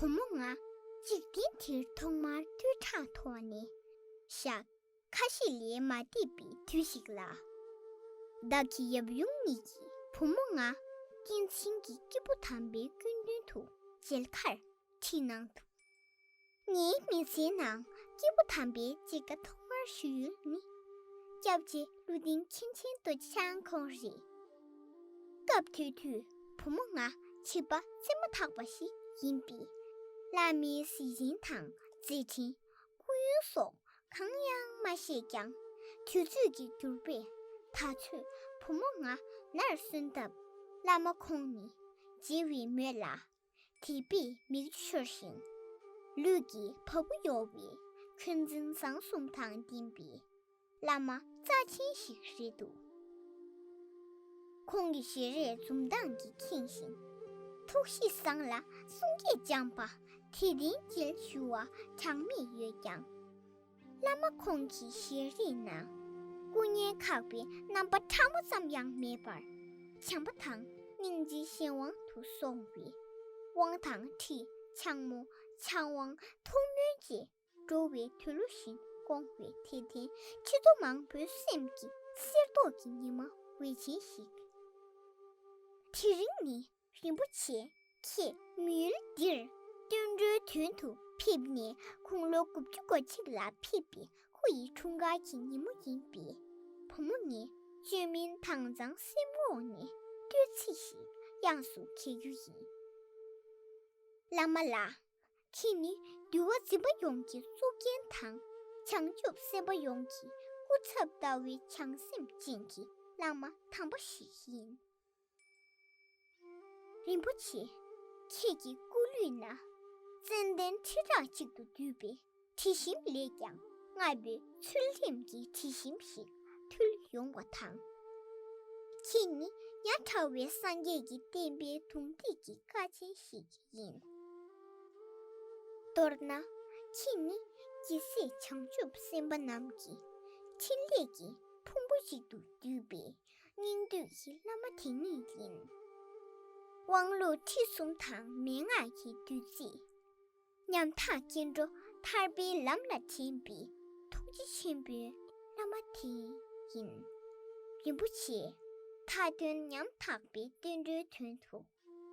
བུ་མོ་ང། འཇིག་རྟེན་འདིར་ཐོག་མར་བསྟོད་ཕྲག་དོག་ནས་བཞག། ཁ་ཞེ་ལས་མ་འདས་པའི་དུས་ཤིག་ལ། བདག་གི་ཡབ་ཡུམ་གཉིས་ཀྱིས་བུ་མོ་ང། སྐྱེས་ཆེན་གྱི་སྐྱེས་བུ་དམ་པའི་སྐུའི་མདུན་དུ་མཇལ་ཁར་ཁྲིད་གནང་འདུག། ངའི་མི་ཚེའི་ནང་སྐྱིད་པོ་དམ་པའི་སྐྱེ་རྒ་ཐོག་མར་ཞུས་ཡུལ་ནི། སྐྱབས་རྗེ་ཀླུ་ལྡིང་མཁན་ཆེན་སྟོད་ཆང་ཁོང་རེད། སྐབས་དེ་དུས་བུ་མོ་ང་བྱིས་པ་བཙས་མ་ཐག་པ་ཞིག་ཡིན་པས། བླ་མའི་གཟི་བྱིན་དང་མཛད་འཕྲིན་སྐུ་ཡོན་སོགས་གང་ཡང་མ་ཤེས་ཀྱང། དུས་ཚོད་ཀྱི་འགྱུར་བས་ད་ཚོད་བུ་མོ་ང་ནར་སོན་སྟབས། བླ་མ་ཁོང་ནི་མཇལ་བའི་མོད་ལ་དེས་པའི་མིག་ཆུ་ཤོར་ཞིང། ལུས་ཀྱི་བ་སྤུ་གཡོ་བའི་ཁྱོད་འཛིན་བཟང་གསུམ་དང་ལྡན་པའི་བླ་མ་རྩ་ཆེན་ཞིག་རེད་འདུག། ཁོང་གི་ཞལ་རས་འཛུམ་མདངས་ཀྱིས་ཁེངས་ཤིང། ཐུགས་གཤིས་བཟང་ལ་གསུང་སྐད་སྦྱངས་པ་དེས་བདེན་བསྐྱིལ་ཞུ་བ་གྲངས་མེད་ཡོད་ཀྱང། བླ་མ་ཁོང་གི་ཞལ་རིས་ན། སྐུ་བརྙན་ཁག་པའི་རྣམ་པ་ཕྲ་མོ་ཙམ་ཡང་མེད་པར། བྱམས་པ་དང་སྙིང་རྗེའི་གཞན་དབང་དུ་སོང་བའི། དབང་དང་ཁྲི་འཕྱང་མོ་འཕྱང་དབང་ཐུགས་སྨོན་བཅས། འགྲོ་བའི་དུས་ལོ་བཞིན་སྐོང་བའི་དད་ལྡན་ཁྱི་ཚོ་མང་པོའི་སེམས་ཀྱི་གསེར་མདོག་གི་ཉི་མ་འོད་ཆེན་ཞིག། དེ་རིང་ནི་རིན་པོ་ཆེ་ཁྱེད་མི་ཡུལ་འདིར་སྟོན་འགྲོའི་དོན་དུ་ཕེབས་ནས་ཁུངས་ལོ་དགུ་བཅུ་གོ་གཅིག་ལ་ཕེབས་པའི་ཁུ་ཡི་འཁྲུངས་སྐར་གྱི་ཉིན་མོ་ཡིན་པས། བུ་མོ་ངས་བཅོས་མིན་དྭངས་གཙང་སེམས་འོག་ནས་བསྟོད་ཚིག་ཞིག་དབྱངས་སུ་གྱེར་རྒྱུ་ཡིན། བླ་མ་ལགས། ཁྱེད་ནི་འདུལ་བ་འཛིན་པ་ཡོངས་ཀྱི་གཙུག་རྒྱན་དང། བྱང་ཆུབ་སེམས་དཔའ་ཡོངས་ཀྱི་སྐུ་ཚབ་ལྟ་བུའི་བྱང་སེམས་ཅན་གྱི་བླ་མ་དམ་པ་ཞིག་ཡིན། རིན་པོ་ཆེ་ཁྱེད་ཀྱི་སྐུ་ལུས་ན་ཙནྡན་ཁྲི་ཕྲག་གཅིག་ཏུ་བསྡུས་པའི་དྲི་ཞིམ་ལས་ཀྱང་སྔར་བས་ཚུལ་ཁྲིམས་ཀྱི་དྲི་ཞིམ་ཞིག་ཕུལ་ཡོང་བ་དང། ཁྱེད་ནི་ཡ་བྲལ་བའི་སངས་རྒྱས་ཀྱི་བསྟན་པའི་དུང་སྟེགས་ཀྱི་ཀ་ཆེན་ཞིག་ཡིན། མདོར་ན་ཁྱེད་ནི་ཇི་སྲིད་བྱང་ཆུབ་སེམས་དཔའ་རྣམས་ཀྱི་ཕྲིན་ལས་ཀྱི་ཕུང་པོ་གཅིག་ཏུ་བསྡུས་པའི་སྙིང་བསྡུས་ཀྱི་བླ་མ་དེ་ཉིད་ཡིན། དབང་ལུང་ཁྲིད་གསུམ་དང་མན་ངག་གི་བདུད་རྩི། ཉམ་ཐག་སྐྱེ་འགྲོ་ཐར་པའི་ལམ་ལ་དྲན་པའི་ཐུགས་རྗེ་ཆེན་པོའི་བླ་མ་དེ་ཡིན། རིན་པོ་ཆེ་མཐའ་དོན་ཉམ་ཐག་པའི་བསྟན་འགྲོའི་དོན་དུ་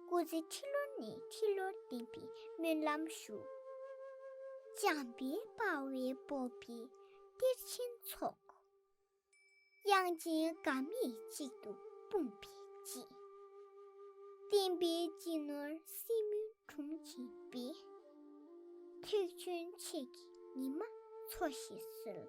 སྐུ་ཚེ་ཁྲི་ལོ་ནས་ཁྲི་ལོར་བརྟན་པའི་སྨོན་ལམ་བཞུགས། བྱམས་པའི་དཔའ་བོའི་སྤོབས་པའི་གཏེར་ཆེན་ཚོགས། དབྱངས་ཅན་དགའ་མིག་གཅིག་ཏུ་སྤུངས་པའི་དཔྱིད། བསྟན་པའི་སྤྱི་ནོར་སྲིན་མོའི་དྲུང་བྱིན་པས། ཐེག་ཆེན་མཆེད་ཀྱི་ཉི་མ་འཚོ་ཞེས་གསོལ།